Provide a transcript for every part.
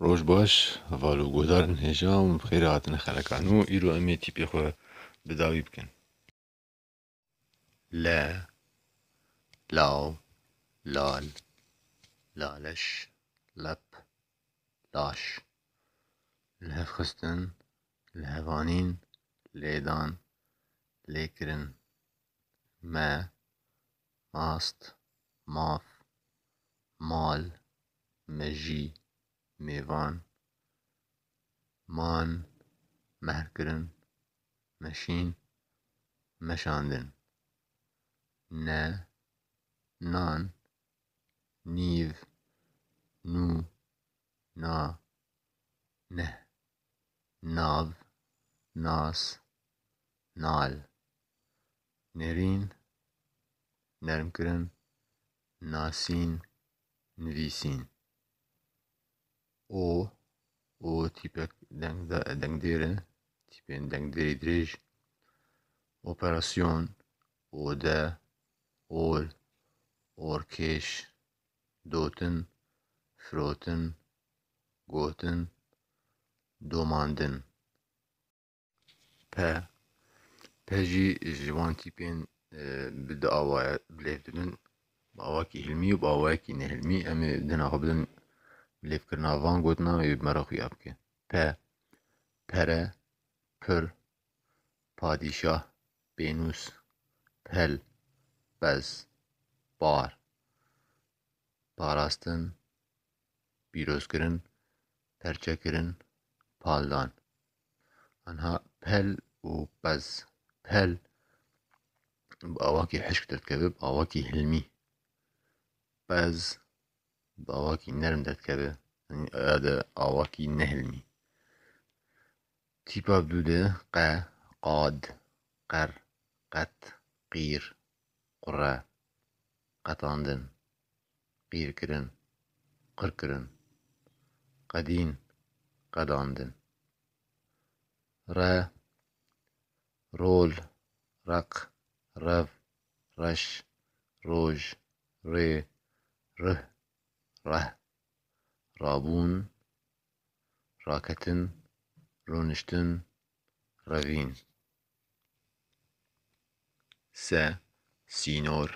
Roj baş valo guhdar in hêja û bi xêrê hatine xeleka nû îro em ê tîpê xwe bi dawî bikin. Le law lal laleş lep laş li hev xistin li hev anîn lêdan lêkirin me mast maf mal mejî, mêvan, man, mehrkirin, meşîn, meşandin, ne, nan, nîv, nû, na, neh, nav, nas, nal, nêrîn, nermkirin, nasîn, nivîsîn. O û tîpek dengdêr e, tîpên dengdêrî dirêj, operasyon, ode, ol, orkêş, dotin, firotin, gotin, domandin. Pe pe jî ji wan tîpên bi du awaya bilêv dibin bi awayekî hilmî û bi awayekî nehilmî em ê dina xwe bidin bilêvkirina van gotina wê bi me re xuya bike pe pere pir padîşah pênûs pel pez par parastin pîrozkirin perçekirin, paldan. Anha pel û qez. Pel bi awakî hişk derdikeve, bi awakî hilmî. Qez bi awakî nerm derdikeve, ya de awakî nehilmî. Tîpa bi dû de qe, qad, qer, qet, qîr, qure, qetandin. qîrkirin, qirkirin, qedîn, qedandin. Re, rol, req, rev, reş, roj, rê, rih, reh, rabûn, raketin, rûniştin, revîn. se, sînor,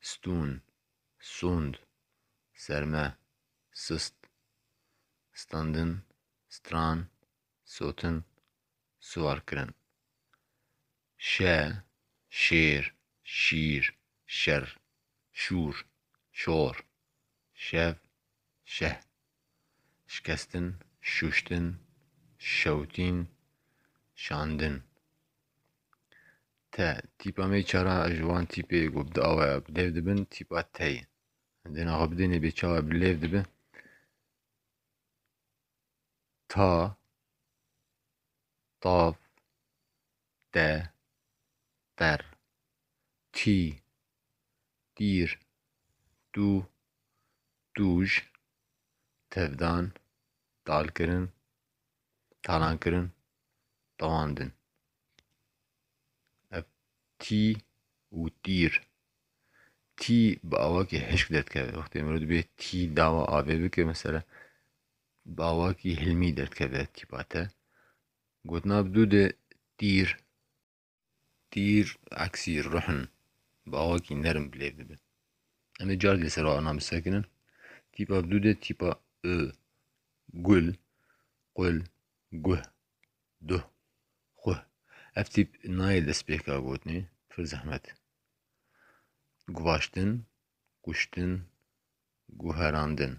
stûn, sûnd, serme, sist, standin, stran, sotin, siwarkirin, şe, şêr, şîr, şer, şûr, şor, şev, şeh. şikestin, şûştin, şewitîn, şandin. Te, tîpa me çara ji wan tîpê ku bi awe bi lêv dibin tîpa te ye. Dêna xwe bidênê bê çawa bi lêv dibe. Ta, tav, de der tî dîr dû dûj tevdan dalkirin talankirin dewan din. Ev tî û dîr tî bi awakî hişk derdikeve wextê mirov dibê tî dawa avê bike mesela bi awakî hilmî derdikeve tîpa te Gotina bi dû de tîr, tîr eksî ruhin bi awakî nerm bilêv dibin. Em ê carek li ser wana bi sekinin. Tîpa bi dû de tîpa û, gul, qul, guh, duh, xuh. Ev tîp nayê destpêka gotinê, pir zehmet e. Guvaştin, kuştin, guherandin.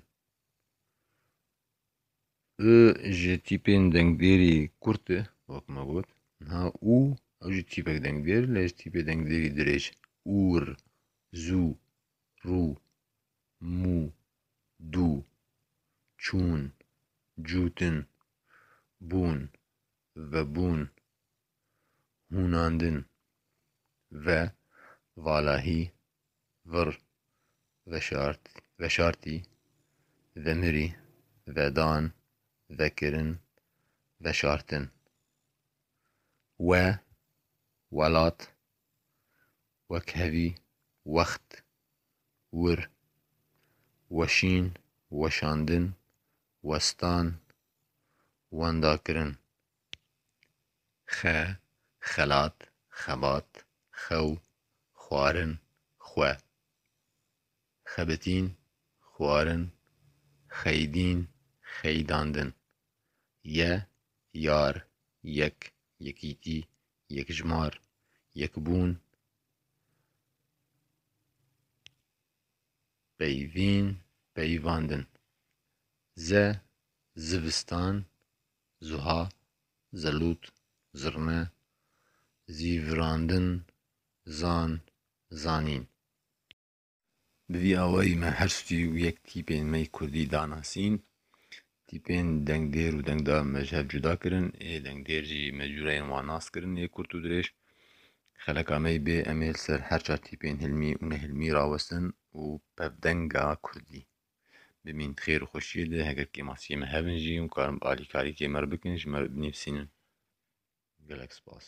I ji tîpên dengdêrî kurt e wek me got niha û ew jî tîpek dengdêr lê ji tîpê dengdêrî dirêj ûr, zû, rû, mû, dû, çûn, cûtin, bûn, vebûn, hûnandin ve, valahî, Vir, veşart, veşartî, vemirî, vedan, vekirin, veşartin. We, welat, wekhevî, wext, wir, weşîn, weşandin, westan, wendakirin, xe, xelat, xebat, xew, xwarin, xwe, xebitîn, xwarin, xeydîn, xeydandin, ye, yar, yek, yekîtî, yekjmar, yekbûn, peyvîn, peyvandin, ze, zivistan, Zuha, zelût, zirne, zî virandin, zan, zanîn. Bi vî awayî me her stûyî û yek tîpên me yê kurdî danasîn. Tîpên dengdêr û dengdar me ji hev cuda kirin. Ê dengdêr jî me cûreyên wan nas kirin ê kurt û dirêj. Xeleka me yê bê em ê li ser her çar tîpên hilmî û nehilmî rawestin û pevdenga kurdî. Bimîn di xêr û xweşiyê de, heger kêmasiyê me hebin jî hûn karin bi alîkarî kê me re bikin, ji me re binivîsînin. Gelek spas.